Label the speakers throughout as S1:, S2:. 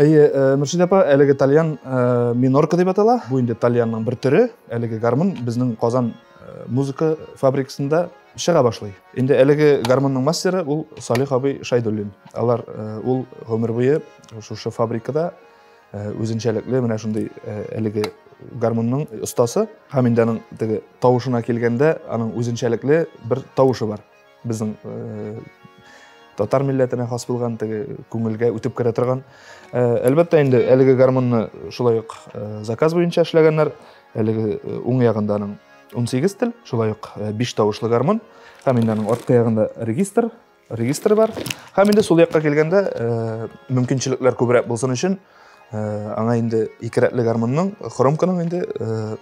S1: Әйе, э, Мөршидә
S2: апа, әлеге тальян э, минорка дип атала. Бу инде тальянның бер төре. Әлеге гармун безнең Казан э, музыка фабрикасында чыга башлый. Инде әлеге гармунның мастеры ул Салих абый Шайдуллин. Алар ул гомер буе шушы фабрикада үзенчәлекле менә шундый әлеге гармунның остасы. Һәм инде аның теге тавышына килгәндә, аның үзенчәлекле бер тавышы бар. Безнең татар милләтенә хас булган теге күңелгә үтеп керә торган. Әлбәттә инде әлеге гармонны шулай ук заказ буенча эшләгәннәр. Әлеге уң ягында аның 18 тел, шулай ук 5 тавышлы гармон. Һәм инде аның арткы ягында регистр, регистр бар. Һәм инде сул якка килгәндә мөмкинчелекләр күбрәк булсын өчен Аңа инде ике рәтле гармунның, хромканың инде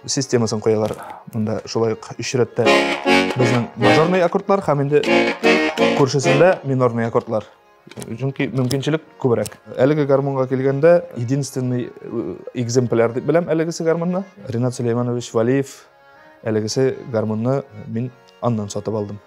S2: системасын куялар. Монда шулай ук өч рәттә безнең мажорный аккордлар һәм инде күршесендә минорный аккордлар. Чөнки мөмкинчелек күбрәк. Әлеге гармунга килгәндә, единственный экземпляр дип беләм әлегесе гармунны. Ренат Сулейманович Валиев әлегесе гармунны мин аннан сатып алдым.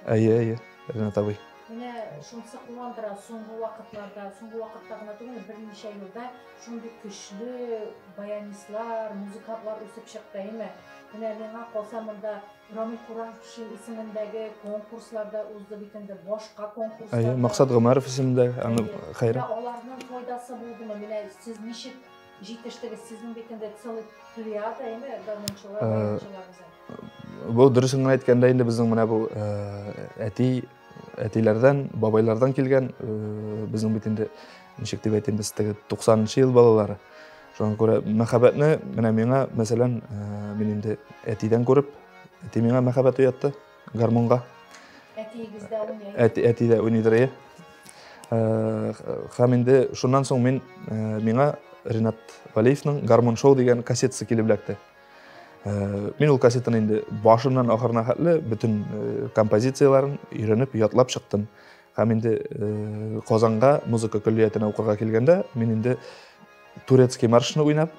S1: Әйе, әйе, Ренат
S2: абый. Менә шунысы
S1: куандыра, соңгы вакытларда, соңгы вакытта гына түгел, берничә елда шундый көчле баянистлар, музыкантлар үсеп чыкты, әйме? Менә миңа калса монда Рамил Кураншин исемендәге конкурсларда узды бит инде, башка конкурсларда. Әйе, Максат Гомәров
S2: исемендәге, аны хәйрә. Аларның файдасы
S1: булдымы? Менә сез ничек Җитештегез, сезнең бит инде целый плеяда инде гармунчылар, баянчылар
S2: үзен. Бу дөресен генә әйткәндә инде безнең менә бу әти әтиләрдән, бабайлардан килгән безнең бит инде ничек дип әйтим без теге 90-нчы ел балалары. Шуңа күрә мәхәббәтне менә миңа, мәсәлән, мин инде әтидән күреп, әти миңа мәхәббәт уятты. гармунга. Әтиегездә
S1: уйный. Әти, әти дә уйныйдыр, иә.
S2: Һәм инде шуннан соң мин миңа Ринат Валеевның Гармун шоу дигән кассетасы килеп эләкте. Мин ул кассетаны инде башыннан ахырына хәтле бөтен композицияләрен өйрәнеп, ятлап чыктым. Һәм инде Казанга музыка көллиятенә укырга килгәндә, мин инде турецкий маршны уйнап,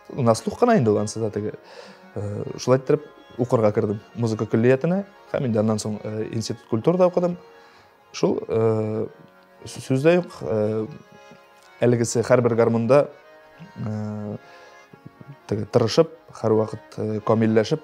S2: на слух кына инде ул ансы да теге шулай иттереп укырга кердем музыка көллиятенә һәм инде аннан соң институт культурада укыдым шул сүздә юк әлегесе һәрбер гармунда теге тырышып һәрвакыт камилләшеп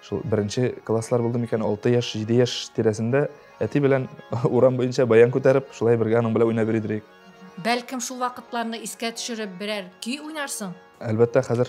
S2: Шул беренче класслар булды микән, 6 яшь, 7 яшь тирәсендә әти белән урам буенча баян күтәреп, шулай бергә аның белән уйнап йөри идек. Бәлкем шул
S1: вакытларны искә төшереп берәр көй уйнарсың? Әлбәттә, хәзер.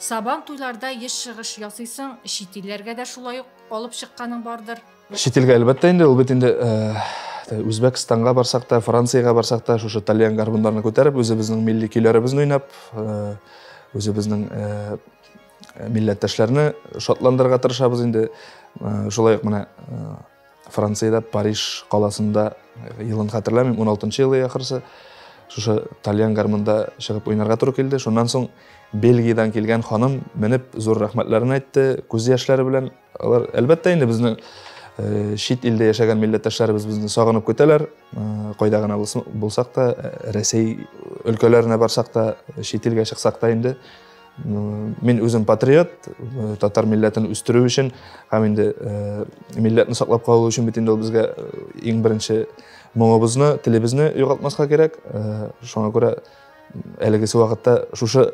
S2: Сабан
S1: туйларда еш чыгыш ясыйсың, чит илләргә дә шулай ук алып чыкканың бардыр? Чит илгә әлбәттә
S2: инде, ул бит инде Үзбәкстанга барсак та, Франциягә барсак та, шушы тальян гармуннарны күтәреп, үзебезнең милли көйләребезне уйнап, үзебезнең милләттәшләрне шатландырырга тырышабыз инде. Шулай ук менә Франциядә, Париж каласында, елын хәтерләмим, 16-нчы елы ахырсы, шушы тальян гармунда чыгып уйнарга туры килде. Шуннан соң Бельгиядән килгән ханым менеп зур рәхмәтләрен әйтте, күз яшьләре белән. Алар, әлбәттә, инде безне э, чит илдә яшәгән милләттәшләребез безне сагынып көтәләр. Э, кайда гына булсак та, э, Рәсәй өлкәләренә барсак та, чит илгә чыксак та инде Мин үзем патриот, э, татар милләтен үстерү өчен һәм инде э, милләтне саклап калу өчен бит инде ул безгә э, иң беренче моңыбызны, телебезне югалтмаска кирәк. Шуңа күрә әлегесе вакытта шушы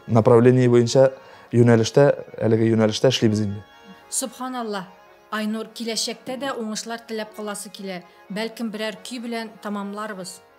S2: направление буенча юнәлештә, әлеге юнәлештә эшлибез инде. Субханаллаһ.
S1: Айнур, киләчәктә дә уңышлар теләп каласы килә. Бәлкем
S2: берәр
S1: көй
S2: белән тамамларбыз.